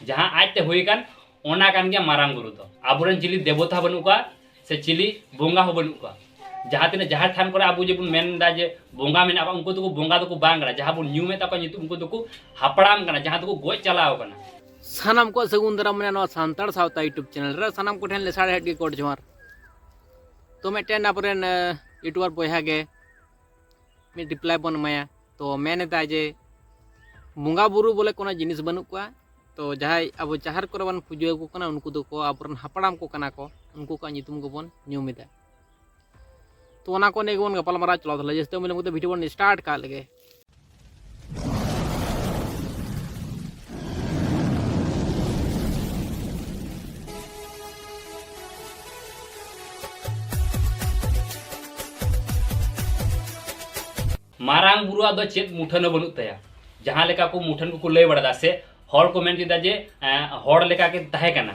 ᱡᱟᱦᱟᱸ ᱟᱡᱛᱮ ᱦᱩᱭ ᱟᱠᱟᱱ ᱚᱱᱟ ᱠᱟᱱ ᱜᱮᱭᱟ ᱢᱟᱨᱟᱝ ᱵᱩᱨᱩ ᱫᱚ ᱟᱵᱚᱨᱮᱱ ᱪᱤᱞᱤ ᱫᱮᱵᱚᱛᱟ ᱵᱟᱹᱱᱩᱜ ᱠᱚᱣᱟ ᱥᱮ ᱪᱤᱞᱤ ᱵᱚᱸᱜᱟ ᱦᱚᱸ ᱵᱟᱹᱱᱩᱜ ᱠᱚᱣᱟ ᱡᱟᱦᱟᱸ ᱛᱤᱱᱟᱹᱜ ᱡᱟᱦᱮᱨ ᱛᱷᱟᱱ ᱠᱚᱨᱮ ᱟᱵᱚ ᱡᱮᱵᱚᱱ ᱢᱮᱱᱫᱟ ᱡᱮ ᱵᱚᱸᱜᱟ ᱢᱮᱱᱟᱜ ᱠᱚᱣᱟ ᱩᱱᱠᱩ ᱫᱚᱠᱚ ᱵᱚᱸᱜᱟ ᱫᱚᱠᱚ ᱵᱟᱝ ᱠᱟᱱᱟ ᱡᱟᱦᱟᱸ ᱵᱚᱱ ᱧᱩᱢᱮᱫ ᱛᱟᱠᱚᱣᱟ ᱧᱩᱛᱩᱢ ᱩᱱᱠᱩ ᱫᱚᱠᱚ ᱦᱟᱯᱲᱟᱢ ᱠᱟᱱᱟ ᱡᱟᱦᱟᱸ ᱫᱚᱠᱚ ᱜᱚᱡ ᱪᱟᱞᱟᱣ ᱠᱟᱱᱟ ᱥᱟᱱᱟᱢ ᱠᱚ ᱥᱟᱹᱜᱩᱱ ᱫᱟᱨᱟᱢ ᱢᱮᱱᱟᱜᱼᱟ ᱱᱚᱣᱟ ᱥᱟᱱᱛᱟᱲ ᱥᱟᱶᱛᱟ ᱤᱭᱩᱴᱩᱵᱽ ᱪᱮᱱᱮᱞ ᱨᱮ ᱥᱟᱱᱟᱢ ᱠᱚᱴᱷᱮᱱ ᱞᱮᱥᱟᱲ ᱦᱮᱰ ᱜᱮ ᱠᱚᱰ ᱡᱚᱦᱟᱨ ᱛᱚ ᱢᱤᱫᱴᱮᱱ ᱟᱵᱚᱨᱮᱱ ᱤᱭᱩᱴᱩᱵᱟᱨ ᱵᱚᱭᱦᱟ ᱜᱮ ᱢᱤᱫ ᱨᱤᱯᱞᱟᱭ ᱵᱚᱱ ᱮᱢᱟᱭᱟ ᱛᱚ ᱢᱮᱱ ᱮᱫᱟᱭ ᱡᱮ ᱵᱚᱸᱜᱟ ᱵᱩᱨᱩ ᱵᱚᱞᱮ ᱠᱳᱱᱳ ᱡᱤᱱᱤᱥ ᱵᱟᱹᱱᱩᱜ ᱠᱚᱣᱟ ᱛᱚ ᱡᱟᱦᱟᱸᱭ ᱟᱵᱚ ᱡᱟᱦᱮᱨ ᱠᱚᱨᱮ ᱵᱚᱱ ᱯᱩᱡᱟᱹ ᱟᱠᱚ ᱠᱟᱱᱟ ᱩᱱᱠᱩ ᱫᱚᱠᱚ ᱟᱵᱚᱨᱮᱱ ᱦᱟᱯᱲᱟᱢ ᱠᱚ ᱠᱟᱱᱟ ᱠᱚ ᱩᱱᱠᱩ ᱠᱚᱣᱟᱜ ᱧᱩᱛᱩᱢ ᱜᱮᱵᱚᱱ ᱧᱩᱢ ᱮᱫᱟ ᱛᱚ ᱚᱱᱟ ᱠᱚ ᱱᱤᱭᱮ ᱜᱮᱵᱚᱱ ᱜᱟᱯᱟᱞᱢᱟᱨᱟᱣ ᱪᱟᱞᱟᱣ ᱫᱟᱲᱮᱭᱟᱜᱼᱟ ᱡᱟᱹᱥᱛᱤ ᱢᱤᱞᱚᱢ ᱠᱟᱛᱮ ᱵᱷᱤᱰᱤᱭᱳ ᱵᱚᱱ ᱥᱴᱟᱨᱴ ᱠᱟᱜ ᱞᱮᱜᱮ ᱢᱟᱨᱟᱝ ᱵᱩᱨᱩ ᱟᱫᱚ ᱪᱮᱫ ᱢᱩᱴᱷᱟᱹᱱ ᱦᱚᱸ ᱵᱟᱹᱱᱩᱜ ᱛᱟᱭᱟ ᱡᱟᱦᱟᱸ ᱞᱮᱠᱟ ᱠᱚ ᱢᱩᱴᱷᱟᱹᱱ ᱠᱚᱠᱚ ᱞᱟᱹᱭ ᱵᱟᱲᱟᱫᱟ ᱥᱮ ᱦᱚᱲ ᱠᱚ ᱢᱮᱱ ᱠᱮᱫᱟ ᱡᱮ ᱦᱚᱲ ᱞᱮᱠᱟ ᱜᱮ ᱛᱟᱦᱮᱸ ᱠᱟᱱᱟ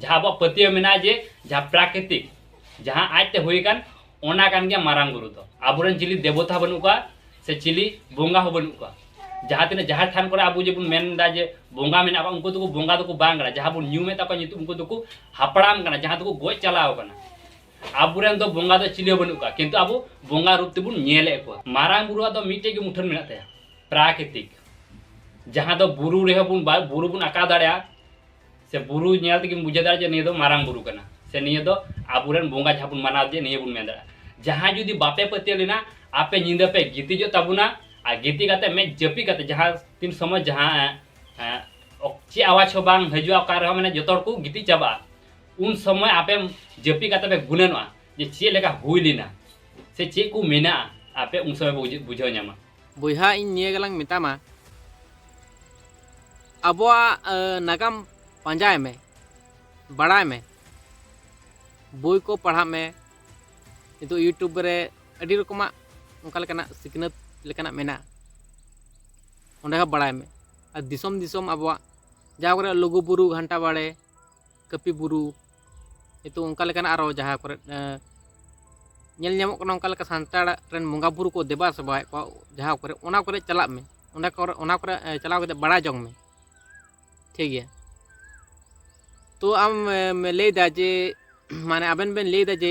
ᱡᱟᱦᱟᱸ ᱟᱵᱚᱣᱟᱜ ᱯᱟᱹᱛᱭᱟᱹᱣ ᱢᱮᱱᱟᱜᱼᱟ ᱡᱮ ᱡᱟᱦᱟᱸ ᱯᱨᱟᱠᱨᱤᱛᱤᱠ ᱡᱟᱦᱟᱸ ᱟᱡᱛᱮ ᱦᱩᱭ ᱟᱠᱟᱱ ᱚᱱᱟ ᱠᱟᱱ ᱜᱮᱭᱟ ᱢᱟᱨᱟᱝ ᱵᱩᱨᱩ ᱫᱚ ᱟᱵᱚᱨᱮᱱ ᱪᱤᱞᱤ ᱫᱮᱵᱚᱛᱟ ᱵᱟᱹᱱᱩᱜ ᱠᱚᱣᱟ ᱥᱮ ᱪᱤᱞᱤ ᱵᱚᱸᱜᱟ ᱦᱚᱸ ᱵᱟᱹᱱᱩᱜ ᱠᱚᱣᱟ ᱡᱟᱦᱟᱸ ᱛᱤᱱᱟᱹᱜ ᱡᱟᱦᱮᱨ ᱛᱷᱟᱱ ᱠᱚᱨᱮ ᱟᱵᱚ ᱡᱮᱵᱚᱱ ᱢᱮᱱᱫᱟ ᱡᱮ ᱵᱚᱸᱜᱟ ᱢᱮᱱᱟᱜ ᱠᱚᱣᱟ ᱩᱱᱠᱩ ᱫᱚᱠᱚ ᱵᱚᱸᱜᱟ ᱫᱚᱠᱚ ᱵᱟᱝ ᱠᱟᱱᱟ ᱡᱟᱦᱟᱸ ᱵᱚᱱ ᱧᱩᱢᱮᱫ ᱛᱟᱠᱚᱣᱟ ᱧᱩᱛᱩᱢ ᱩᱱᱠᱩ ᱫᱚᱠᱚ ᱦᱟᱯᱲᱟᱢ ᱠᱟᱱᱟ ᱡᱟᱦᱟᱸ ᱫᱚᱠᱚ ᱜᱚᱡ ᱪᱟᱞᱟᱣ ᱠᱟᱱᱟ ᱟᱵᱚᱨᱮᱱ ᱫᱚ ᱵᱚᱸᱜᱟ ᱫᱚ ᱪᱤᱞᱤ ᱦᱚᱸ ᱵᱟᱹᱱᱩᱜ ᱠᱚᱣᱟ ᱠᱤᱱᱛᱩ ᱟᱵᱚ ᱵᱚᱸᱜᱟ ᱨᱩᱯ ᱛᱮᱵᱚᱱ ᱧᱮᱞᱮᱫ ᱠᱚᱣᱟ ᱢᱟᱨᱟᱝ ᱵᱩᱨᱩᱣᱟᱜ ᱫᱚ ᱢᱤᱫᱴᱮᱡ ᱜᱮ ᱢᱩᱴᱷᱟᱹᱱ ᱢᱮᱱᱟᱜ ᱛᱟᱭᱟ ᱯᱨᱟᱠᱨᱤᱛᱤᱠ ᱡᱟᱦᱟᱸ ᱫᱚ ᱵᱩᱨᱩ ᱨᱮᱦᱚᱸ ᱵᱚᱱ ᱵᱩᱨᱩ ᱵᱚᱱ ᱟᱸᱠᱟᱣ ᱫᱟᱲᱮᱭᱟᱜᱼᱟ ᱥᱮ ᱵᱩᱨᱩ ᱧᱮᱞ ᱛᱮᱜᱮᱢ ᱵᱩᱡᱷᱟᱹᱣ ᱫᱟᱲᱮᱭᱟᱜᱼᱟ ᱡᱮ ᱱᱤᱭᱟᱹ ᱫᱚ ᱢᱟᱨᱟᱝ ᱵᱩᱨᱩ ᱠᱟᱱᱟ ᱥᱮ ᱱᱤᱭᱟᱹ ᱫᱚ ᱟᱵᱚᱨᱮᱱ ᱵᱚᱸᱜᱟ ᱡᱟᱦᱟᱸ ᱵᱚᱱ ᱢᱟᱱᱟᱣ ᱫᱮᱭᱟ ᱱᱤᱭᱟᱹ ᱵᱚᱱ ᱢᱮᱱ ᱫᱟᱲᱮᱭᱟᱜᱼᱟ ᱡᱟᱦᱟᱸᱭ ᱡᱩᱫᱤ ᱵᱟᱯᱮ ᱯᱟᱹᱛᱭᱟᱹᱣ ᱞᱮᱱᱟ ᱟᱯᱮ ᱧᱤᱫᱟᱹ ᱯᱮ ᱜᱤᱛᱤᱡᱚᱜ ᱛᱟᱵᱚᱱᱟ ᱟᱨ ᱜᱤᱛᱤᱡ ᱠᱟᱛᱮ ᱢᱮᱫ ᱡᱟᱹᱯᱤᱫ ᱠᱟᱛᱮ ᱡᱟᱦᱟᱸ ᱛᱤᱱ ᱥᱚᱢᱚᱭ ᱡᱟᱦᱟᱸ ᱪᱮᱫ ᱟᱣᱟᱡᱽ ᱦᱚᱸ ᱵᱟᱝ ᱦᱤᱡᱩᱜᱼᱟ ᱚᱠᱟ ᱨᱮᱦᱚᱸ ᱢᱟᱱᱮ ᱡᱚᱛᱚ ᱦᱚᱲ ᱠᱚ ᱜᱤᱛᱤᱡ ᱪᱟᱵᱟᱜᱼᱟ ᱩᱱ ᱥᱚᱢᱚᱭ ᱟᱯᱮ ᱡᱟᱹᱯᱤᱫ ᱠᱟᱛᱮ ᱯᱮ ᱜᱩᱱᱟᱹᱱᱚᱜᱼᱟ ᱡᱮ ᱪᱮᱫ ᱞᱮᱠᱟ ᱦᱩᱭ ᱞᱮᱱᱟ ᱥᱮ ᱪᱮᱫ ᱠᱚ ᱢᱮᱱᱟᱜᱼᱟ ᱟᱯᱮ ᱩᱱ ᱥᱚᱢᱚᱭ ᱯᱮ ᱵᱩᱡᱷᱟᱹᱣ ᱧᱟᱢᱟ ᱵᱚᱭᱦᱟ ᱤᱧ ᱱᱤᱭᱟᱹ ᱜᱮᱞᱟᱝ ᱢᱮᱛᱟᱢᱟ ᱟᱵᱚᱣᱟᱜ ᱱᱟᱜᱟᱢ ᱯᱟᱸᱡᱟᱭ ᱢᱮ ᱵᱟᱲᱟᱭ ᱢᱮ ᱵᱳᱭ ᱠᱚ ᱯᱟᱲᱦᱟᱜ ᱢᱮ ᱱᱤᱛᱚᱜ ᱤᱭᱩᱴᱩᱵᱽ ᱨᱮ ᱟᱹᱰᱤ ᱨᱚᱠᱚᱢᱟᱜ ᱚᱱᱠᱟ ᱞᱮᱠᱟᱱᱟᱜ ᱥᱤᱠᱷᱱᱟᱹᱛ ᱞᱮᱠᱟᱱᱟᱜ ᱢᱮᱱᱟᱜᱼᱟ ᱚᱸᱰᱮ ᱦᱚᱸ ᱵᱟᱲᱟᱭ ᱢᱮ ᱟᱨ ᱫᱤᱥᱚᱢ ᱫᱤᱥᱚᱢ ᱟᱵᱚᱣᱟᱜ ᱡᱟᱦᱟᱸ ᱠᱚᱨᱮ ᱞᱩᱜᱩᱼᱵᱩᱨᱩ ᱜᱷᱟᱱᱴᱟ ᱵᱟᱲᱮ ᱠᱟᱹᱯᱤ ᱵᱩᱨᱩ ᱱᱤᱛᱚᱜ ᱚᱱᱠᱟ ᱞᱮᱠᱟᱱ ᱟᱨᱚ ᱡᱟᱦᱟᱸ ᱠᱚᱨᱮ ᱧᱮᱞ ᱧᱟᱢᱚᱜ ᱠᱟᱱᱟ ᱚᱱᱠᱟ ᱞᱮᱠᱟ ᱥᱟᱱᱛᱟᱲ ᱨᱮᱱ ᱵᱚᱸᱜᱟ ᱵᱩᱨᱩ ᱠᱚ ᱫᱮᱵᱟ ᱥᱮᱵᱟᱭᱮᱫ ᱠᱚᱣᱟ ᱡᱟᱦᱟᱸ ᱠᱚᱨᱮ ᱚᱱᱟ ᱠᱚᱨᱮ ᱪᱟᱞᱟᱜ ᱢᱮ ᱚᱱᱟ ᱠᱚᱨᱮ ᱚᱱᱟ ᱠᱚᱨᱮ ᱪᱟᱞᱟᱣ ᱠᱟᱛᱮ ᱵᱟᱲᱟᱭ ᱡᱚᱝ ᱢᱮ ᱴᱷᱤᱠ ᱜᱮᱭᱟ ᱛᱚ ᱟᱢ ᱞᱟᱹᱭᱫᱟ ᱡᱮ ᱢᱟᱱᱮ ᱟᱵᱮᱱ ᱵᱮᱱ ᱞᱟᱹᱭᱫᱟ ᱡᱮ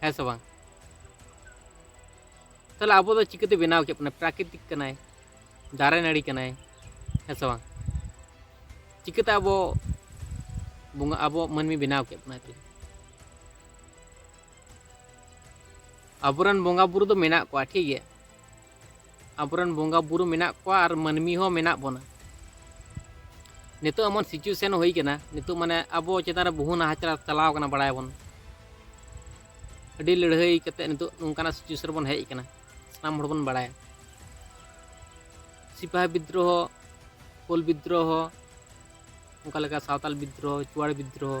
ᱦᱮᱸ ᱥᱮ ᱵᱟᱝ ᱛᱟᱦᱚᱞᱮ ᱟᱵᱚ ᱫᱚ ᱪᱤᱠᱟᱹᱛᱮ ᱵᱮᱱᱟᱣ ᱠᱮᱫ ᱵᱚᱱᱟ ᱯᱨᱟᱠᱨᱤᱛᱤᱠ ᱠᱟᱱᱟᱭ ᱫᱟᱨᱮ ᱱᱟᱹᱲᱤ ᱠᱟᱱᱟᱭ ᱦᱮᱸ ᱥᱮ ᱵᱟᱝ ᱪᱤᱠᱟᱹᱛᱮ ᱟᱵᱚ ᱵᱚᱸᱜᱟ ᱟᱵᱚ ᱢᱟᱹᱱᱢᱤ ᱵᱮᱱᱟᱣ ᱠᱮᱫ ᱵᱚᱱᱟᱭ ᱛᱟᱦᱚᱞᱮ ᱟᱵᱚᱨᱮᱱ ᱵᱚᱸᱜᱟ ᱵᱩᱨᱩ ᱫᱚ ᱢᱮᱱᱟᱜ ᱠᱚᱣᱟ ᱴᱷᱤᱠ ᱜᱮᱭᱟ ᱟᱵᱚᱨᱮᱱ ᱵᱚᱸᱜᱟ ᱵᱩᱨᱩ ᱢᱮᱱᱟᱜ ᱠᱚᱣᱟ ᱟᱨ ᱢᱟᱹᱱᱢᱤ ᱦᱚᱸ ᱢᱮᱱᱟᱜ ᱵᱚᱱᱟ ᱱᱤᱛᱚᱜ ᱮᱢᱚᱱ ᱥᱤᱪᱩᱭᱮᱥᱚᱱ ᱦᱩᱭ ᱠᱟᱱᱟ ᱱᱤᱛᱚᱜ ᱢᱟᱱᱮ ᱟᱵᱚ ᱪᱮᱛᱟᱱ ᱨᱮ ᱵᱚᱦᱩ ᱱᱟᱦᱟᱪᱟᱨ ᱪᱟᱞᱟᱣ ᱠᱟᱱᱟ ᱵᱟᱲᱟᱭᱟᱵᱚᱱ ᱟᱹᱰᱤ ᱞᱟᱹᱲᱦᱟᱹᱭ ᱠᱟᱛᱮ ᱱᱤᱛᱚᱜ ᱱᱚᱝᱠᱟᱱᱟᱜ ᱥᱤᱪᱩᱭᱮᱥᱚᱱ ᱨᱮᱵᱚᱱ ᱦᱮᱡ ᱠᱟᱱᱟ ᱥᱟᱱᱟᱢ ᱦᱚᱲ ᱵᱚᱱ ᱵᱟᱲᱟᱭᱟ ᱥᱤᱯᱟᱦᱤ ᱵᱤᱫᱽᱫᱨᱳᱦᱚ ᱠᱳᱞ ᱵᱤᱫᱽᱫᱨᱳᱦᱚ ᱚᱱᱠᱟ ᱞᱮᱠᱟ ᱥᱟᱶᱛᱟᱞ ᱵᱤᱫᱽᱫᱨᱳᱦᱚ ᱪᱩᱣᱟᱲ ᱵᱤᱫᱽᱫᱨᱳᱦᱚ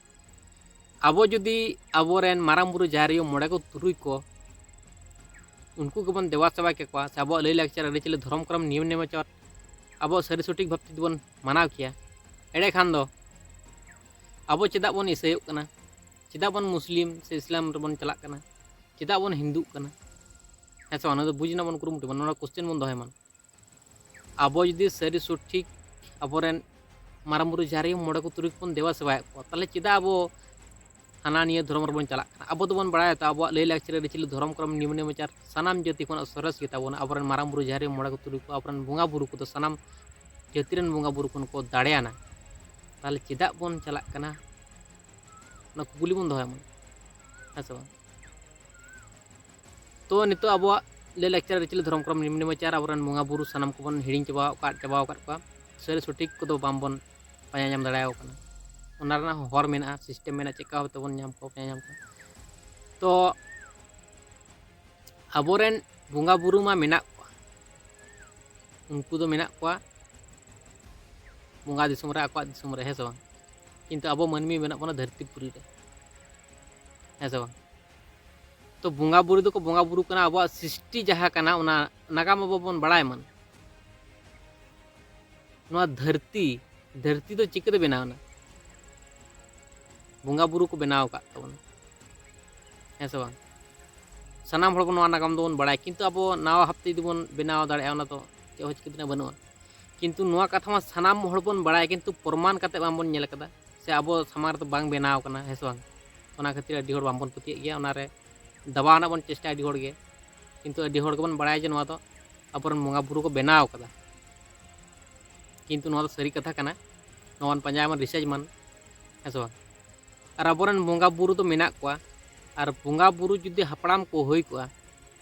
ᱟᱵᱚ ᱡᱩᱫᱤ ᱟᱵᱚᱨᱮᱱ ᱢᱟᱨᱟᱝ ᱵᱩᱨᱩ ᱡᱟᱦᱮᱨ ᱟᱭᱳ ᱢᱚᱬᱮ ᱠᱚ ᱛᱩᱨᱩᱭ ᱠᱚ ᱩᱱᱠᱩ ᱜᱮᱵᱚᱱ ᱫᱮᱵᱟ ᱥᱮᱵᱟ ᱠᱮᱠᱚᱣᱟ ᱥᱮ ᱟᱵᱚᱣᱟᱜ ᱞᱟᱹᱭᱼᱞᱟᱠᱪᱟᱨ ᱟᱹᱨᱤᱪᱟᱹᱞᱤ ᱫᱷᱚᱨᱚᱢ ᱠᱚᱨᱚᱢ ᱱᱤᱭᱚᱢ ᱱᱮᱢᱟᱪᱟᱨ ᱟᱵᱚ ᱥᱟᱹᱨᱤ ᱥᱚᱴᱷᱤᱠ ᱵᱷᱟᱵᱽ ᱛᱮ ᱵᱚᱱ ᱢᱟᱱᱟᱣ ᱠᱮᱭᱟ ᱮᱲᱮ ᱠᱷᱟᱱ ᱫᱚ ᱟᱵᱚ ᱪᱮᱫᱟᱜ ᱵᱚᱱ ᱤᱥᱟᱹᱭᱚᱜ ᱠᱟᱱᱟ ᱪᱮᱫᱟᱜ ᱵᱚᱱ ᱢᱩᱥᱞᱤᱢ ᱥᱮ ᱤᱥᱞᱟᱢ ᱨᱮᱵᱚᱱ ᱪᱟᱞᱟᱜ ᱠᱟᱱᱟ ᱪᱮᱫᱟᱜ ᱵᱚᱱ ᱦᱤᱱᱫᱩᱜ ᱠᱟᱱᱟ ᱦᱮᱸ ᱥᱮ ᱵᱟᱝ ᱱᱚᱣᱟ ᱫᱚ ᱵᱩᱡᱽ ᱨᱮᱱᱟᱜ ᱵᱚᱱ ᱠᱩᱨᱩᱢᱩᱴᱩᱭ ᱢᱟ ᱱᱚᱣᱟ ᱠᱚᱥᱪᱮᱱ ᱵᱚᱱ ᱫᱚᱦᱚᱭ ᱢᱟ ᱟᱵᱚ ᱡᱩᱫᱤ ᱥᱟᱹᱨᱤ ᱥᱚᱴᱷᱤᱠ ᱟᱵᱚᱨᱮᱱ ᱢᱟᱨᱟᱝ ᱵᱩᱨᱩ ᱡᱟᱦᱮᱨ ᱟᱭᱳ ᱢᱚᱬᱮ ᱠᱚ ᱛᱩᱨᱩᱭ ᱠᱚᱵᱚᱱ ᱫᱮᱵᱟ ᱥᱮᱵᱟᱭᱮᱫ ᱠᱚᱣᱟ ᱛᱟᱦᱚᱞᱮ ᱪᱮᱫᱟᱜ ᱟᱵᱚ ᱦᱟᱱᱟ ᱱᱤᱭᱟᱹ ᱫᱷᱚᱨᱚᱢ ᱨᱮᱵᱚᱱ ᱪᱟᱞᱟᱜ ᱠᱟᱱᱟ ᱟᱵᱚ ᱫᱚᱵᱚᱱ ᱵᱟᱲᱟᱭᱟ ᱛᱚ ᱟᱵᱚᱣᱟᱜ ᱞᱟᱹᱭ ᱞᱟᱠᱪᱟᱨ ᱟᱹᱨᱤᱪᱟᱹᱞᱤ ᱫᱷᱚᱨᱚᱢ ᱠᱚᱨᱚᱢ ᱱᱤᱭᱚᱢ ᱱᱮᱢᱟᱪᱟᱨ ᱥᱟᱱᱟᱢ ᱡᱟᱹᱛᱤ ᱠᱷᱚᱱᱟᱜ ᱥᱚᱨᱮᱥ ᱜᱮᱛᱟ ᱵᱚᱱᱟ ᱟᱵᱚᱨᱮᱱ ᱢᱟᱨᱟᱝ ᱵᱩᱨᱩ ᱡᱟᱦᱮᱨ ᱟᱭᱳ ᱢᱚᱬᱮ ᱠᱚ ᱛᱩᱨᱩᱭ ᱠᱚ ᱟᱵᱚᱨᱮᱱ ᱵᱚᱸᱜᱟ ᱵᱩᱨᱩ ᱠᱚᱫᱚ ᱥᱟᱱᱟᱢ ᱡᱟᱹᱛᱤ ᱨᱮᱱ ᱵᱚᱸᱜᱟ ᱵᱩᱨᱩ ᱠᱷᱚᱱ ᱠᱚ ᱫᱟᱲᱮᱭᱟᱱᱟ ᱛᱟᱦᱚᱞᱮ ᱪᱮᱫᱟᱜ ᱵᱚᱱ ᱪᱟᱞᱟᱜ ᱠᱟᱱᱟ ᱚᱱᱟ ᱠᱩᱠᱞᱤ ᱵᱚᱱ ᱫᱚᱦᱚᱭ ᱢᱟ ᱦᱮᱸ ᱥᱮ ᱵᱟᱝ ᱛᱚ ᱱᱤᱛᱚᱜ ᱟᱵᱚᱣᱟᱜ ᱞᱟᱹᱭ ᱞᱟᱠᱪᱟᱨ ᱟᱹᱨᱤᱪᱟᱹᱞᱤ ᱫᱷᱚᱨᱚᱢ ᱠᱚᱨᱚᱢ ᱱᱤᱢ ᱱᱮᱢᱟᱪᱟᱨ ᱟᱵᱚᱨᱮᱱ ᱵᱚᱸᱜᱟ ᱵᱩᱨᱩ ᱥᱟᱱᱟᱢ ᱠᱚᱵᱚᱱ ᱦᱤᱲᱤᱧ ᱪᱟᱵᱟ ᱟᱠᱟᱫ ᱪᱟᱵᱟ ᱟᱠᱟᱫ ᱠᱚᱣᱟ ᱥᱟᱹᱨᱤ ᱥᱚᱴᱷᱤᱠ ᱠᱚᱫᱚ ᱵᱟᱝᱵᱚᱱ ᱯᱟᱸᱡᱟ ᱧᱟᱢ ᱫᱟᱲᱮᱭᱟᱠᱚ ᱠᱟᱱᱟ ᱚᱱᱟ ᱨᱮᱱᱟᱜ ᱦᱚᱸ ᱦᱚᱨ ᱢᱮᱱᱟᱜᱼᱟ ᱥᱤᱥᱴᱮᱢ ᱢᱮᱱᱟᱜᱼᱟ ᱪᱮᱫᱠᱟ ᱵᱷᱟᱵᱛᱮ ᱵᱚᱱ ᱧᱟᱢ ᱠᱚᱣᱟ ᱯᱟᱸᱡᱟ ᱧᱟᱢ ᱠᱚᱣᱟ ᱛᱚ ᱟᱵᱚᱨᱮᱱ ᱵᱚᱸᱜᱟ ᱵᱩᱨᱩ ᱢᱟ ᱢᱮᱱᱟᱜ ᱠᱚᱣᱟ ᱩᱱᱠᱩ ᱫᱚ ᱢᱮᱱᱟᱜ ᱠᱚᱣᱟ ᱵᱚᱸᱜᱟ ᱫᱤᱥᱚᱢ ᱨᱮ ᱟᱠᱚᱣᱟᱜ ᱫᱤᱥᱚᱢ ᱨᱮ ᱦᱮᱸ ᱥᱮ ᱵᱟᱝ ᱠᱤᱱᱛᱩ ᱟᱵᱚ ᱢᱟᱹᱱᱢᱤ ᱢᱮᱱᱟᱜ ᱵᱚᱱᱟ ᱫᱷᱟᱹᱨᱛᱤ ᱯᱩᱨᱤ ᱨᱮ ᱦᱮᱸ ᱥᱮ ᱵᱟᱝ ᱛᱚ ᱵᱚᱸᱜᱟ ᱵᱩᱨᱩ ᱫᱚᱠᱚ ᱵᱚᱸᱜᱟ ᱵᱩᱨᱩ ᱠᱟᱱᱟ ᱟᱵᱚᱣᱟᱜ ᱥᱨᱤᱥᱴᱤ ᱡᱟᱦᱟᱸ ᱠᱟᱱᱟ ᱚᱱᱟ ᱱᱟᱜᱟᱢ ᱟᱵᱚ ᱵᱚᱱ ᱵᱟᱲᱟᱭ ᱢᱟ ᱱᱚᱣᱟ ᱫᱷᱟᱹᱨᱛᱤ ᱫᱷᱟᱹᱨᱛᱤ ᱫᱚ ᱪᱤᱠᱟᱹᱛᱮ ᱵᱮᱱᱟᱣᱱᱟ ᱵᱚᱸᱜᱟ ᱵᱩᱨᱩ ᱠᱚ ᱵᱮᱱᱟᱣ ᱟᱠᱟᱫ ᱛᱟᱵᱚᱱᱟ ᱦᱮᱸ ᱥᱮ ᱵᱟᱝ ᱥᱟᱱᱟᱢ ᱦᱚᱲ ᱱᱚᱣᱟ ᱱᱟᱜᱟᱢ ᱫᱚᱵᱚᱱ ᱵᱟᱲᱟᱭ ᱠᱤᱱᱛᱩ ᱟᱵᱚ ᱱᱟᱣᱟ ᱦᱟᱯᱛᱮ ᱡᱩᱫᱤ ᱵᱚᱱ ᱵᱮᱱᱟᱣ ᱫᱟᱲᱮᱭᱟᱜᱼᱟ ᱚᱱᱟ ᱫᱚ ᱪᱮᱫ ᱦᱚᱸ ᱪᱤᱠᱟᱹ ᱛᱮᱱᱟᱜ ᱵᱟᱹᱱᱩᱜᱼᱟ ᱠᱤᱱᱛᱩ ᱱᱚᱣᱟ ᱠᱟᱛᱷᱟ ᱢᱟ ᱥᱟᱱᱟᱢ ᱦᱚᱲ ᱵᱚᱱ ᱵᱟᱲᱟᱭ ᱠᱤᱱᱛᱩ ᱯᱨᱚᱢᱟᱱ ᱠᱟᱛᱮ ᱵᱟᱝᱵᱚᱱ ᱧᱮᱞ ᱠᱟᱫᱟ ᱥᱮ ᱟᱵᱚ ᱥᱟᱢᱟᱝ ᱨᱮᱫᱚ ᱵᱟᱝ ᱵᱮᱱᱟᱣ ᱠᱟᱱᱟ ᱦᱮᱸ ᱥᱮ ᱵᱟᱝ ᱚᱱᱟ ᱠᱷᱟᱹᱛᱤᱨ ᱟᱹᱰᱤ ᱦᱚᱲ ᱵᱟᱝᱵᱚᱱ ᱯᱟᱹᱛᱭᱟᱹᱜ ᱜᱮᱭᱟ ᱚᱱᱟᱨᱮ ᱫᱟᱵᱟᱣ ᱨᱮᱱᱟᱜ ᱵᱚᱱ ᱪᱮᱥᱴᱟᱭᱟ ᱟᱹᱰᱤ ᱦᱚᱲᱜᱮ ᱠᱤᱱᱛᱩ ᱟᱹᱰᱤ ᱦᱚᱲ ᱜᱮᱵᱚᱱ ᱵᱟᱲᱟᱭᱟ ᱡᱮ ᱱᱚᱣᱟ ᱫᱚ ᱟᱵᱚᱨᱮᱱ ᱵᱚᱸᱜᱟ ᱵᱩᱨᱩ ᱠᱚ ᱵᱮᱱᱟᱣ ᱠᱟᱫᱟ ᱠᱤᱱᱛᱩ ᱱᱚᱣᱟ ᱫᱚ ᱥᱟᱹᱨᱤ ᱠᱟᱛᱷᱟ ᱠᱟᱱᱟ ᱱᱚᱣᱟ ᱵᱚᱱ ᱯᱟᱸᱡᱟᱭ ᱢᱟ ᱨᱤᱥᱟᱨᱪ ᱢᱟᱱ ᱦᱮᱸ ᱥᱮ ᱵᱟᱝ ᱟᱨ ᱟᱵᱚᱨᱮᱱ ᱵᱚᱸᱜᱟ ᱵᱩᱨᱩ ᱫᱚ ᱢᱮᱱᱟᱜ ᱠᱚᱣᱟ ᱟᱨ ᱵᱚᱸᱜᱟ ᱵᱩᱨᱩ ᱡᱩᱫᱤ ᱦᱟᱯᱲᱟᱢ ᱠᱚ ᱦᱩᱭ ᱠᱚᱜᱼᱟ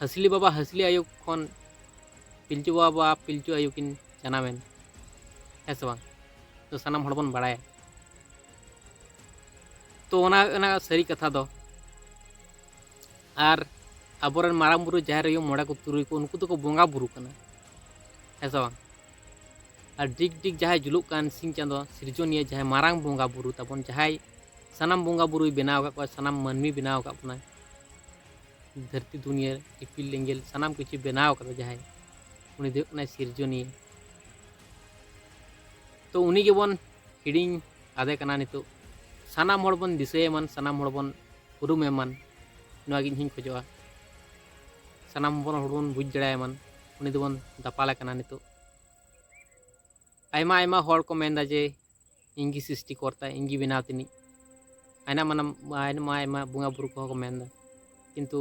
ᱦᱟᱹᱥᱞᱤ ᱵᱟᱵᱟ ᱦᱟᱹᱥᱞᱤ ᱟᱭᱳ ᱠᱷᱚᱱ ᱯᱤᱞᱪᱩ ᱵᱟᱵᱟ ᱯᱤᱞᱪᱩ ᱟᱭᱳ ᱠᱤᱱ ᱡᱟᱱᱟᱢᱮᱱ ᱦᱮᱸ ᱥᱮ ᱵᱟᱝ ᱛᱚ ᱥᱟᱱᱟᱢ ᱦᱚᱲ ᱵᱚᱱ ᱵᱟᱲᱟᱭᱟ ᱛᱚ ᱚᱱᱟ ᱚᱱᱟ ᱥᱟᱹᱨᱤ ᱠᱟᱛᱷᱟ ᱫᱚ ᱟᱨ ᱟᱵᱚᱨᱮᱱ ᱢᱟᱨᱟᱝ ᱵᱩᱨᱩ ᱡᱟᱦᱮᱨ ᱟᱭᱳ ᱢᱚᱬᱮ ᱠᱚ ᱛᱩᱨᱩᱭ ᱠᱚ ᱩᱱᱠᱩ ᱫᱚᱠᱚ ᱵᱚᱸᱜᱟ ᱵᱩᱨᱩ ᱠᱟᱱᱟ ᱦᱮᱸ ᱥᱮ ᱵᱟᱝ ᱟᱨ ᱰᱤᱜᱽ ᱰᱤᱜᱽ ᱡᱟᱦᱟᱸᱭ ᱡᱩᱞᱩᱜ ᱠᱟᱱ ᱥᱤᱧ ᱪᱟᱸᱫᱚ ᱥᱤᱨᱡᱚᱱᱤᱭᱟᱹ ᱡᱟᱦᱟᱸᱭ ᱢᱟᱨᱟᱝ ᱵᱚᱸᱜᱟ ᱵᱩᱨᱩ ᱛᱟᱵᱚᱱ ᱡᱟᱦᱟᱸᱭ ᱥᱟᱱᱟᱢ ᱵᱚᱸᱜᱟ ᱵᱩᱨᱩᱭ ᱵᱮᱱᱟᱣ ᱟᱠᱟᱫ ᱠᱚᱣᱟ ᱥᱟᱱᱟᱢ ᱢᱟᱹᱱᱢᱤ ᱵᱮᱱᱟᱣ ᱟᱠᱟᱫ ᱵᱚᱱᱟᱭ ᱫᱷᱟᱹᱨᱛᱤ ᱫᱩᱱᱤᱭᱟᱹ ᱤᱯᱤᱞ ᱮᱸᱜᱮᱞ ᱥᱟᱱᱟᱢ ᱠᱤᱪᱷᱩ ᱵᱮᱱᱟᱣ ᱠᱟᱫᱟ ᱡᱟᱦᱟᱸᱭ ᱩᱱᱤ ᱫᱚ ᱦᱩᱭᱩᱜ ᱠᱟᱱᱟᱭ ᱥᱤᱨᱡᱚᱱᱤᱭᱟᱹ ᱛᱚ ᱩᱱᱤ ᱜᱮᱵᱚᱱ ᱦᱤᱲᱤᱧ ᱟᱫᱮ ᱠᱟᱱᱟ ᱱᱤᱛᱚᱜ ᱥᱟᱱᱟᱢ ᱦᱚᱲ ᱵᱚᱱ ᱫᱤᱥᱟᱹᱭᱮᱢᱟᱱ ᱥᱟᱱᱟᱢ ᱦᱚᱲ ᱵᱚᱱ ᱩᱨᱩᱢᱮᱢᱟᱱ ᱱᱚᱣᱟ ᱜᱮ ᱤᱧᱦᱚᱧ ᱠᱷᱚᱡᱚᱜᱼᱟ ᱥᱟᱱᱟᱢ ᱵᱚᱱ ᱦᱚᱲ ᱵᱚᱱ ᱵᱩᱡᱽ ᱫᱟᱲᱮᱭᱟᱢᱟᱱ ᱩᱱᱤ ᱫᱚᱵᱚᱱ ᱫᱟᱯᱟᱞᱮ ᱠᱟᱱᱟ ᱱᱤᱛᱚᱜ ᱟᱭᱢᱟ ᱟᱭᱢᱟ ᱦᱚᱲ ᱠᱚ ᱢᱮᱱᱫᱟ ᱡᱮ ᱤᱧᱜᱮ ᱥᱨᱤᱥᱴᱤ ᱠᱚᱨᱛᱟ ᱤᱧᱜᱮ ᱵᱮᱱᱟᱣ ᱛᱤᱱᱤᱡ ᱟᱭᱢᱟ ᱢᱟᱱᱟᱢ ᱟᱭᱢᱟ ᱟᱭᱢᱟ ᱵᱚᱸᱜᱟ ᱵᱩᱨᱩ ᱠᱚᱦᱚᱸ ᱠᱚ ᱢᱮᱱᱫᱟ ᱠᱤᱱᱛᱩ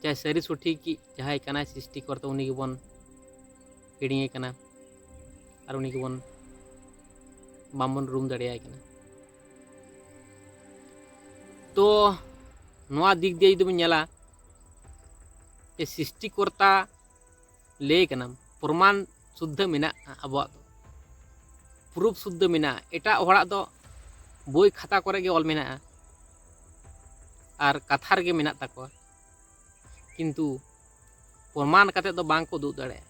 ᱡᱟᱦᱟᱸᱭ ᱥᱟᱹᱨᱤ ᱥᱚᱴᱷᱤᱠ ᱡᱟᱦᱟᱸᱭ ᱠᱟᱱᱟᱭ ᱥᱨᱤᱥᱴᱤ ᱠᱚᱨᱛᱟ ᱩᱱᱤ ᱜᱮᱵᱚᱱ ᱦᱤᱲᱤᱧᱮ ᱠᱟᱱᱟ ᱟᱨ ᱩᱱᱤ ᱜᱮᱵᱚᱱ ᱵᱟᱝᱵᱚᱱ ᱨᱩᱢ ᱫᱟᱲᱮᱭᱟᱭ ᱠᱟᱱᱟ ᱛᱚ ᱱᱚᱣᱟ ᱫᱤᱠ ᱫᱤᱭᱮ ᱡᱩᱫᱤ ᱵᱚᱱ ᱧᱮᱞᱟ ᱥᱨᱤᱥᱴᱤ ᱠᱚᱨᱛᱟ ᱞᱟᱹᱭ ᱠᱟᱱᱟᱢ ᱯᱨᱚᱢᱟᱱ ᱥᱩᱫᱽᱫᱷᱟᱹ ᱢᱮᱱᱟᱜᱼᱟ ᱟᱵᱚᱣᱟᱜ ᱫᱚ ᱯᱨᱩᱯᱷ ᱥᱩᱫᱽᱫᱷᱟᱹ ᱢᱮᱱᱟᱜᱼᱟ ᱮᱴᱟᱜ ᱦᱚᱲᱟᱜ ᱫᱚ ᱵᱳᱭ ᱠᱷᱟᱛᱟ ᱠᱚᱨᱮ ᱜᱮ ᱚᱞ ᱢᱮᱱᱟᱜᱼᱟ ᱟᱨ ᱠᱟᱛᱷᱟ ᱨᱮᱜᱮ ᱢᱮᱱᱟᱜ ᱛᱟᱠᱚᱣᱟ ᱠᱤᱱᱛᱩ ᱯᱨᱚᱢᱟᱱ ᱠᱟᱛᱮ ᱫᱚ ᱵᱟᱝ ᱠᱚ ᱩᱫᱩᱜ ᱫᱟᱲᱮᱭᱟᱜᱼᱟ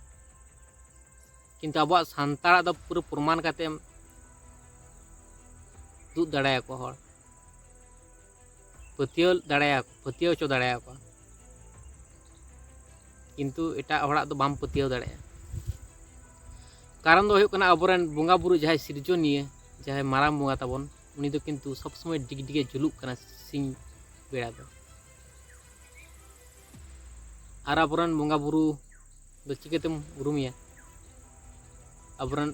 ᱠᱤᱱᱛᱩ ᱟᱵᱚᱣᱟᱜ ᱥᱟᱱᱛᱟᱲᱟᱜ ᱫᱚ ᱯᱩᱨᱟᱹ ᱯᱨᱚᱢᱟᱱ ᱠᱟᱛᱮᱢ ᱩᱫᱩᱜ ᱫᱟᱲᱮᱭᱟᱠᱚ ᱦᱚᱲ ᱯᱟᱹᱛᱭᱟᱹᱣ ᱫᱟᱲᱮᱭᱟ ᱯᱟᱹᱛᱭᱟᱹᱣ ᱦᱚᱪᱚ ᱫᱟᱲᱮᱭᱟ ᱠᱚᱣᱟ ᱠᱤᱱᱛᱩ ᱮᱴᱟᱜ ᱦᱚᱲᱟᱜ ᱫᱚ ᱵᱟᱢ ᱯᱟᱹᱛᱭᱟᱹᱣ ᱫᱟᱲᱮᱭᱟᱜᱼᱟ ᱠᱟᱨᱚᱱ ᱫᱚ ᱦᱩᱭᱩᱜ ᱠᱟᱱᱟ ᱟᱵᱚᱨᱮᱱ ᱵᱚᱸᱜᱟ ᱵᱩᱨᱩ ᱡᱟᱦᱟᱸᱭ ᱥᱤᱨᱡᱚᱱᱤᱭᱟᱹ ᱡᱟᱦᱟᱸᱭ ᱢᱟᱨᱟᱝ ᱵᱚᱸᱜᱟ ᱛᱟᱵᱚᱱ ᱩᱱᱤ ᱫᱚ ᱠᱤᱱᱛᱩ ᱥᱚᱵ ᱥᱚᱢᱚᱭ ᱰᱤᱜᱽᱰᱤᱜᱮ ᱡᱩᱞᱩᱜ ᱠᱟᱱᱟ ᱥᱤᱧ ᱵᱮᱲᱟ ᱫᱚ ᱟᱨ ᱟᱵᱚᱨᱮᱱ ᱵᱚᱸᱜᱟ ᱵᱩᱨᱩ ᱫᱚ ᱪᱤᱠᱟᱹᱛᱮᱢ ᱩᱨᱩᱢᱮᱭᱟ ᱟᱵᱚᱨᱮᱱ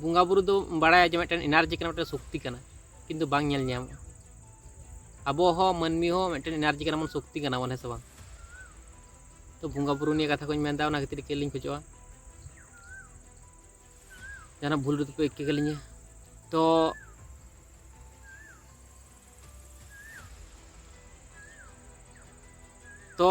ᱵᱚᱸᱜᱟ ᱵᱩᱨᱩ ᱫᱚ ᱵᱟᱲᱟᱭᱟ ᱡᱮ ᱢᱤᱫᱴᱮᱱ ᱮᱱᱟᱨᱡᱤ ᱠᱟᱱᱟ ᱢᱤᱫᱴᱮᱱ ᱥᱚᱠᱛᱤ ᱠᱟᱱᱟ ᱠᱤᱱᱛᱩ ᱵᱟᱝ ᱧᱮᱞ ᱧᱟᱢᱚᱜᱼᱟ ᱟᱵᱚ ᱦᱚᱸ ᱢᱟᱹᱱᱢᱤ ᱦᱚᱸ ᱢᱤᱫᱴᱮᱱ ᱮᱱᱟᱨᱡᱤ ᱠᱟᱱᱟ ᱵᱚᱱ ᱥᱚᱠᱛᱤ ᱠᱟᱱᱟ ᱵᱚᱱ ᱦᱮᱸ ᱥᱮ ᱵᱟᱝ ᱛᱚ ᱵᱚᱸᱜᱟ ᱵᱩᱨᱩ ᱱᱤᱭᱟᱹ ᱠᱟᱛᱷᱟ ᱠᱚᱧ ᱢᱮᱱᱫᱟ ᱚᱱᱟ ᱠᱷᱟᱹᱛᱤᱨ ᱠᱮᱞᱤᱧ ᱠᱷᱚᱡᱚᱜᱼᱟ ᱡᱟᱦᱟᱱᱟᱜ ᱵᱷᱩᱞ ᱨᱮᱫᱚ ᱯᱮ ᱤᱠᱟᱹ ᱠᱟᱹᱞᱤᱧᱟ ᱛᱚ ᱛᱚ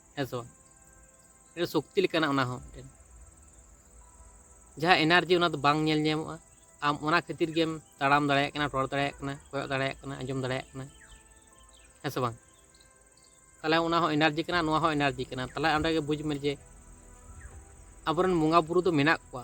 ᱦᱮᱸ ᱥᱮ ᱵᱟᱝ ᱢᱤᱫᱴᱮᱱ ᱥᱚᱠᱛᱤ ᱞᱮᱠᱟᱱᱟᱜ ᱚᱱᱟ ᱦᱚᱸ ᱢᱤᱫᱴᱮᱱ ᱡᱟᱦᱟᱸ ᱮᱱᱟᱨᱡᱤ ᱚᱱᱟ ᱫᱚ ᱵᱟᱝ ᱧᱮᱞ ᱧᱟᱢᱚᱜᱼᱟ ᱟᱢ ᱚᱱᱟ ᱠᱷᱟᱹᱛᱤᱨ ᱜᱮᱢ ᱛᱟᱲᱟᱢ ᱫᱟᱲᱮᱭᱟᱜ ᱠᱟᱱᱟ ᱨᱚᱲ ᱫᱟᱲᱮᱭᱟᱜ ᱠᱟᱱᱟ ᱠᱚᱭᱚᱜ ᱫᱟᱲᱮᱭᱟᱜ ᱠᱟᱱᱟ ᱟᱸᱡᱚᱢ ᱫᱟᱲᱮᱭᱟᱜ ᱠᱟᱱᱟ ᱦᱮᱸ ᱥᱮ ᱵᱟᱝ ᱛᱟᱦᱚᱞᱮ ᱚᱱᱟ ᱦᱚᱸ ᱮᱱᱟᱨᱡᱤ ᱠᱟᱱᱟ ᱱᱚᱣᱟ ᱦᱚᱸ ᱮᱱᱟᱨᱡᱤ ᱠᱟᱱᱟ ᱛᱟᱦᱚᱞᱮ ᱚᱸᱰᱮ ᱜᱮ ᱵᱩᱡᱽ ᱢᱮ ᱡᱮ ᱟᱵᱚᱨᱮᱱ ᱵᱚᱸᱜᱟ ᱵᱩᱨᱩ ᱫᱚ ᱢᱮᱱᱟᱜ ᱠᱚᱣᱟ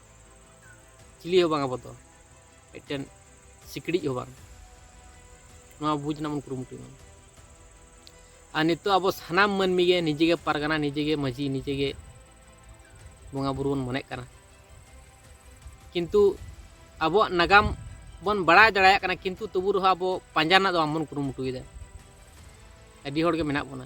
ᱪᱤᱞᱤ ᱦᱚᱸ ᱵᱟᱝ ᱟᱵᱚ ᱫᱚ ᱢᱤᱫᱴᱮᱱ ᱥᱤᱠᱲᱤᱡ ᱦᱚᱸ ᱵᱟᱝ ᱱᱚᱣᱟ ᱵᱩᱡᱽ ᱨᱮᱱᱟᱜ ᱵᱚᱱ ᱠᱩᱨᱩᱢᱩᱴᱩᱭ ᱢᱟ ᱟᱨ ᱱᱤᱛᱚᱜ ᱟᱵᱚ ᱥᱟᱱᱟᱢ ᱢᱟᱹᱱᱢᱤ ᱜᱮ ᱱᱤᱡᱮ ᱜᱮ ᱯᱟᱨᱜᱟᱱᱟ ᱱᱤᱡᱮ ᱜᱮ ᱢᱟᱹᱡᱷᱤ ᱱᱤᱡᱮ ᱜᱮ ᱵᱚᱸᱜᱟ ᱵᱩᱨᱩ ᱵᱚᱱ ᱢᱚᱱᱮᱜ ᱠᱟᱱᱟ ᱠᱤᱱᱛᱩ ᱟᱵᱚᱣᱟᱜ ᱱᱟᱜᱟᱢ ᱵᱚᱱ ᱵᱟᱲᱟᱭ ᱫᱟᱲᱮᱭᱟᱜ ᱠᱟᱱᱟ ᱠᱤᱱᱛᱩ ᱛᱚᱵᱩ ᱨᱮᱦᱚᱸ ᱟᱵᱚ ᱯᱟᱸᱡᱟ ᱨᱮᱱᱟᱜ ᱫᱚ ᱵᱟᱝᱵᱚᱱ ᱠᱩᱨᱩᱢᱩᱴᱩᱭᱮᱫᱟ ᱟᱹᱰᱤ ᱦᱚᱲᱜᱮ ᱢᱮᱱᱟᱜ ᱵᱚᱱᱟ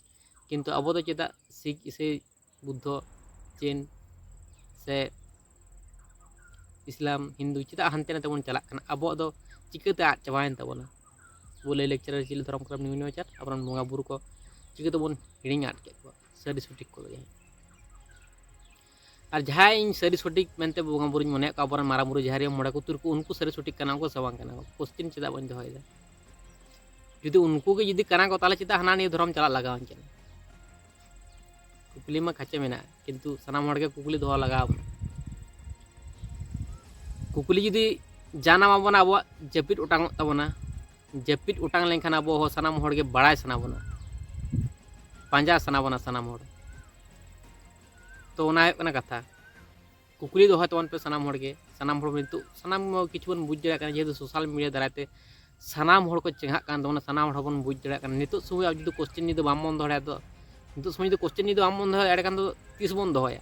ᱠᱤᱱᱛᱩ ᱟᱵᱚ ᱫᱚ ᱪᱮᱫᱟᱜ ᱥᱤᱠ ᱤᱥᱟᱹᱭ ᱵᱩᱫᱽᱫᱷᱚ ᱡᱮᱱ ᱥᱮ ᱤᱥᱞᱟᱢ ᱦᱤᱱᱫᱩ ᱪᱮᱫᱟᱜ ᱦᱟᱱᱛᱮ ᱱᱟᱛᱮ ᱵᱚᱱ ᱪᱟᱞᱟᱜ ᱠᱟᱱᱟ ᱟᱵᱚᱣᱟᱜ ᱫᱚ ᱪᱤᱠᱟᱹᱛᱮ ᱟᱫ ᱪᱟᱵᱟᱭᱮᱱ ᱛᱟᱵᱚᱱᱟ ᱟᱵᱚ ᱞᱟᱹᱭ ᱞᱟᱠᱪᱟᱨ ᱟᱹᱨᱤᱪᱟᱹᱞᱤ ᱫᱷᱚᱨᱚᱢ ᱠᱚᱨᱚᱢ ᱱᱤᱭᱚᱢ ᱱᱮᱢᱟᱪᱟᱨ ᱟᱵᱚᱨᱮᱱ ᱵᱚᱸᱜᱟ ᱵᱩᱨᱩ ᱠᱚ ᱪᱤᱠᱟᱹ ᱛᱮᱵᱚᱱ ᱦᱤᱲᱤᱧ ᱟᱫ ᱠᱮᱫ ᱠᱚᱣᱟ ᱥᱟᱹᱨᱤ ᱥᱚᱴᱷᱤᱠ ᱠᱚᱫᱚ ᱡᱟᱦᱟᱸᱭ ᱟᱨ ᱡᱟᱦᱟᱸᱭ ᱤᱧ ᱥᱟᱹᱨᱤ ᱥᱚᱴᱷᱤᱠ ᱢᱮᱱᱛᱮ ᱵᱚᱸᱜᱟ ᱵᱩᱨᱩᱧ ᱢᱚᱱᱮᱭᱮᱫ ᱠᱚᱣᱟ ᱟᱵᱚᱨᱮᱱ ᱢᱟᱨᱟᱝ ᱵᱩᱨᱩ ᱡᱟᱦᱮᱨᱤᱭᱟᱹ ᱢᱚᱬᱮ ᱠᱚ ᱛᱩᱨᱩᱭ ᱠᱚ ᱩᱱᱠᱩ ᱥᱟᱹᱨᱤ ᱥᱚᱴᱷᱤᱠ ᱠᱟᱱᱟ ᱠᱚ ᱥᱮ ᱵᱟᱝ ᱠᱟᱱᱟ ᱠᱚ ᱠᱚᱥᱪᱤᱱ ᱪᱮᱫᱟᱜ ᱵᱟᱹᱧ ᱫᱚᱦᱚᱭᱮᱫᱟ ᱡᱩᱫᱤ ᱩᱱᱠᱩ ᱜᱮ ᱡᱩᱫᱤ ᱠᱟᱱᱟ ᱠᱚ ᱛᱟᱦᱚᱞᱮ ᱪᱮᱫᱟᱜ ᱦᱟᱱᱟ ᱱᱤᱭᱟᱹ ᱫᱷᱚᱨᱚᱢ ᱪᱟᱞᱟᱜ ᱞᱟᱜᱟᱣᱟᱹᱧ ᱠᱟᱱᱟ ᱠᱩᱠᱞᱤ ᱢᱟ ᱠᱷᱟᱪᱮ ᱢᱮᱱᱟᱜᱼᱟ ᱠᱤᱱᱛᱩ ᱥᱟᱱᱟᱢ ᱦᱚᱲ ᱜᱮ ᱠᱩᱠᱞᱤ ᱫᱚᱦᱚ ᱞᱟᱜᱟᱣ ᱵᱚᱱᱟ ᱠᱩᱠᱞᱤ ᱡᱩᱫᱤ ᱡᱟᱱᱟᱢ ᱟᱵᱚᱱᱟ ᱟᱵᱚᱣᱟᱜ ᱡᱟᱹᱯᱤᱫ ᱚᱴᱟᱝᱚᱜ ᱛᱟᱵᱚᱱᱟ ᱡᱟᱹᱯᱤᱫ ᱚᱴᱟᱝ ᱞᱮᱱᱠᱷᱟᱱ ᱟᱵᱚ ᱦᱚᱸ ᱥᱟᱱᱟᱢ ᱦᱚᱲ ᱜᱮ ᱵᱟᱲᱟᱭ ᱥᱟᱱᱟ ᱵᱚᱱᱟ ᱯᱟᱸᱡᱟ ᱥᱟᱱᱟ ᱵᱚᱱᱟ ᱥᱟᱱᱟᱢ ᱦᱚᱲ ᱛᱚ ᱚᱱᱟ ᱦᱩᱭᱩᱜ ᱠᱟᱱᱟ ᱠᱟᱛᱷᱟ ᱠᱩᱠᱞᱤ ᱫᱚᱦᱚᱭ ᱛᱟᱵᱚᱱ ᱯᱮ ᱥᱟᱱᱟᱢ ᱦᱚᱲ ᱜᱮ ᱥᱟᱱᱟᱢ ᱦᱚᱲ ᱱᱤᱛᱚᱜ ᱥᱟᱱᱟᱢ ᱠᱤᱪᱷᱩ ᱵᱚᱱ ᱵᱩᱡᱽ ᱫᱟᱲᱮᱭᱟᱜ ᱠᱟᱱᱟ ᱡᱮᱦᱮᱛᱩ ᱥᱳᱥᱟᱞ ᱢᱤᱰᱤᱭᱟ ᱫᱟᱨᱟᱭ ᱛᱮ ᱥᱟᱱᱟᱢ ᱦᱚᱲ ᱠᱚ ᱪᱮᱸᱜᱷᱟᱜ ᱠᱟᱱ ᱛᱟᱵᱚᱱᱟ ᱥᱟᱱᱟᱢ ᱦᱚᱲ ᱵᱚᱱ ᱵᱩᱡᱽ ᱫᱟᱲᱮᱭᱟᱜ ᱠᱟᱱᱟ ᱱᱤᱛᱚᱜ ᱥᱚᱢᱚᱭ ᱟᱵᱚ ᱡᱩᱫᱤ ᱠᱚᱥᱪᱮᱱ ᱡᱩᱫᱤ ᱵᱟᱢ ᱵᱚᱱ ᱫᱚᱦᱚᱭᱟ ᱫᱚ ᱱᱤᱛᱚᱜ ᱥᱚᱢᱚᱭ ᱡᱩᱫᱤ ᱠᱚᱥᱪᱮᱱ ᱡᱩᱫᱤ ᱵᱟᱢ ᱵᱚᱱ ᱫᱚᱦᱚᱭᱟ ᱮᱸᱰᱮᱠᱷᱟᱱ ᱫᱚ ᱛᱤᱥ ᱵᱚᱱ ᱫᱚᱦᱚᱭᱟ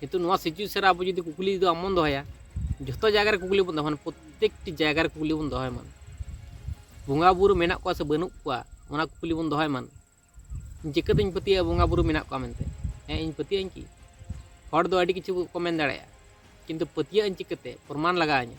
ᱠᱤᱱᱛᱩ ᱱᱚᱣᱟ ᱥᱤᱪᱩᱭᱮᱥᱚᱱ ᱨᱮ ᱟᱵᱚ ᱡᱩᱫᱤ ᱠᱩᱠᱞᱤ ᱫᱚ ᱟᱢ ᱵᱚᱱ ᱫᱚᱦᱚᱭᱟ ᱡᱚᱛᱚ ᱡᱟᱭᱜᱟ ᱨᱮ ᱠᱩᱠᱞᱤ ᱵᱚᱱ ᱫᱚᱦᱚᱭᱟ ᱯᱨᱚᱛᱮᱠᱴᱤ ᱡᱟᱭᱜᱟ ᱨᱮ ᱠᱩᱠᱞᱤ ᱵᱚᱱ ᱫᱚᱦᱚᱭ ᱢᱟ ᱵᱚᱸᱜᱟ ᱵᱩᱨᱩ ᱢᱮᱱᱟᱜ ᱠᱚᱣᱟ ᱥᱮ ᱵᱟᱹᱱᱩᱜ ᱠᱚᱣᱟ ᱚᱱᱟ ᱠᱩᱠᱞᱤ ᱵᱚᱱ ᱫᱚᱦᱚᱭ ᱢᱟ ᱪᱤᱠᱟᱹᱛᱮᱧ ᱯᱟᱹᱛᱭᱟᱹᱜᱼᱟ ᱵᱚᱸᱜᱟ ᱵᱩᱨᱩ ᱢᱮᱱᱟᱜ ᱠᱚᱣᱟ ᱢᱮᱱᱛᱮ ᱦᱮᱸ ᱤᱧ ᱯᱟᱹᱛᱭᱟᱹᱜ ᱟᱹᱧ ᱠᱤ ᱦᱚᱲ ᱫᱚ ᱟᱹᱰᱤ ᱠᱤᱪᱷᱩ ᱠᱚ ᱢᱮᱱ ᱫᱟᱲᱮᱭᱟᱜᱼᱟ ᱠᱤᱱᱛᱩ ᱯᱟᱹᱛᱭᱟᱹᱜ ᱟᱹᱧ ᱪᱤᱠᱟᱹᱛᱮ ᱯᱨᱚᱢᱟᱱ ᱞᱟᱜᱟᱣ ᱤᱧᱟᱹ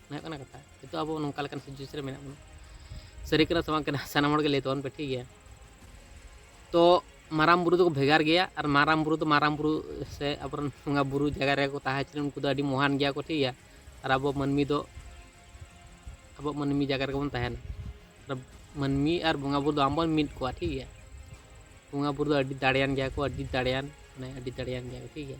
ᱦᱩᱭᱩᱜ ᱠᱟᱱᱟ ᱠᱟᱛᱷᱟ ᱱᱤᱛᱚᱜ ᱟᱵᱚ ᱱᱚᱝᱠᱟ ᱞᱮᱠᱟᱱ ᱥᱤᱪᱩᱭᱮᱥᱚᱱ ᱨᱮ ᱢᱮᱱᱟᱜ ᱵᱚᱱᱟ ᱥᱟᱹᱨᱤ ᱠᱟᱱᱟ ᱥᱮ ᱵᱟᱝ ᱠᱟᱱᱟ ᱥᱟᱱᱟᱢ ᱦᱚᱲᱜᱮ ᱞᱟᱹᱭ ᱛᱟᱵᱚᱱ ᱯᱮ ᱴᱷᱤᱠ ᱜᱮᱭᱟ ᱛᱚ ᱢᱟᱨᱟᱝ ᱵᱩᱨᱩ ᱫᱚᱠᱚ ᱵᱷᱮᱜᱟᱨ ᱜᱮᱭᱟ ᱟᱨ ᱢᱟᱨᱟᱝ ᱵᱩᱨᱩ ᱫᱚ ᱢᱟᱨᱟᱝ ᱵᱩᱨᱩ ᱥᱮ ᱟᱵᱚᱨᱮᱱ ᱵᱚᱸᱜᱟ ᱵᱩᱨᱩ ᱡᱟᱭᱜᱟ ᱨᱮᱠᱚ ᱛᱟᱦᱮᱸ ᱦᱚᱪᱚ ᱩᱱᱠᱩ ᱫᱚ ᱟᱹᱰᱤ ᱢᱚᱦᱟᱱ ᱜᱮᱭᱟ ᱠᱚ ᱴᱷᱤᱠ ᱜᱮᱭᱟ ᱟᱨ ᱟᱵᱚ ᱢᱟᱹᱱᱢᱤ ᱫᱚ ᱟᱵᱚ ᱢᱟᱹᱱᱢᱤ ᱡᱟᱭᱜᱟ ᱨᱮᱜᱮ ᱵᱚᱱ ᱛᱟᱦᱮᱱᱟ ᱟᱨ ᱢᱟᱹᱱᱢᱤ ᱟᱨ ᱵᱚᱸᱜᱟ ᱵᱩᱨᱩ ᱫᱚ ᱟᱢᱵᱚᱱ ᱢᱤᱫ ᱠᱚᱣᱟ ᱴᱷᱤᱠ ᱜᱮᱭᱟ ᱵᱚᱸᱜᱟ ᱵᱩᱨᱩ ᱫᱚ ᱟᱹᱰᱤ ᱫᱟᱲᱮᱭᱟᱱ ᱜᱮᱭᱟ ᱠᱚ ᱟᱹᱰᱤ ᱫᱟᱲᱮᱭᱟᱱ ᱢᱟᱱᱮ ᱟᱹᱰᱤ ᱫᱟᱲᱮᱭᱟᱱ ᱜᱮᱭᱟ ᱠᱚ ᱴᱷᱤᱠ ᱜᱮᱭᱟ